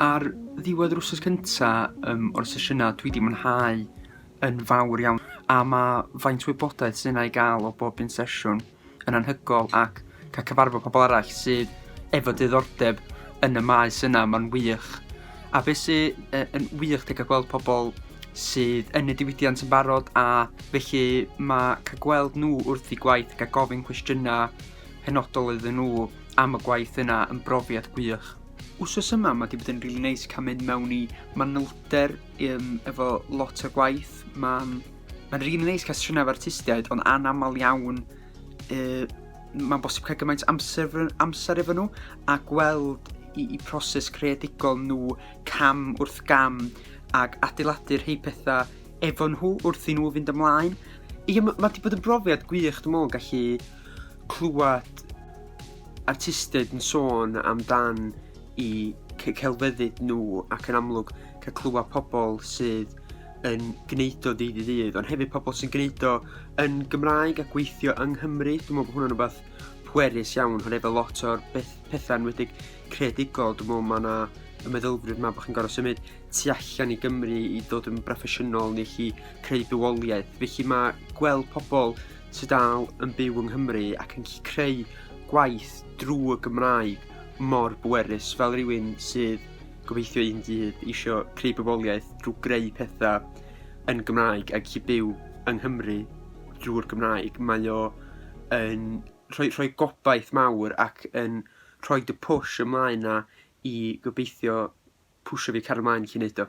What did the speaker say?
Ar ddiwedd yr wythnos cynta, yym, o'r sesiynau dwi 'di mwynhau yn fawr iawn. A mae faint o wybodaeth sy' 'na i gael o bob un sesiwn yn anhygoel ac cael cyfarfod pobl arall sydd efo diddordeb yn y maes yna, mae'n wych. A be' sy yy yn wych 'di cael gweld pobl... sydd yn y diwydiant yn barod a felly ma' cael gweld nhw wrth eu gwaith, gael gofyn cwestiynau penodol iddyn nhw am y gwaith yna yn brofiad gwych. Wsos yma ma' 'di bod yn rili neis cael mynd mewn i manylder yym efo lot o gwaith. Ma'n ma'n rili neis cael siarad efo artistiaid ond anaml iawn yy mae'n bosib cael gymaint amser efo amser efo nhw a gweld i- eu proses creadigol nhw cam wrth gam. ac adeiladu rhei pethau efo nhw wrth i nhw fynd ymlaen. Ia m- mae 'di bod yn brofiad gwych dwi'n meddwl gallu clywed artistiaid yn sôn amdan eu c- celfyddyd nhw ac yn amlwg cael clywed pobl sydd yn gwneud o ddydd i ddydd ond hefyd pobl sy'n gwneud o yn Gymraeg a gweithio yng Nghymru. Dwi'n meddwl bod hwnna'n rywbeth pwerus iawn oherwydd efo lot o'r beth- pethau enwedig... creadigol, dwi'n meddwl mae 'na y meddylfryd 'ma bod chi'n gorfod symud tu allan i Gymru i ddod yn broffesiynol neu allu creu bywoliaeth. Felly mae gweld pobl sy dal yn byw yng Nghymru ac yn gallu creu gwaith drwy y Gymraeg mor bwerus fel rywun sydd gobeithio un dydd isio creu bywoliaeth drwy greu pethau yn Gymraeg ac i byw yng Nghymru drwy'r Gymraeg. Mae o yn rhoi rhoi gobaith mawr ac yn... rhoid y push ymlaen 'na i gobeithio pwsio fi cario 'mlaen i gallu wneud o.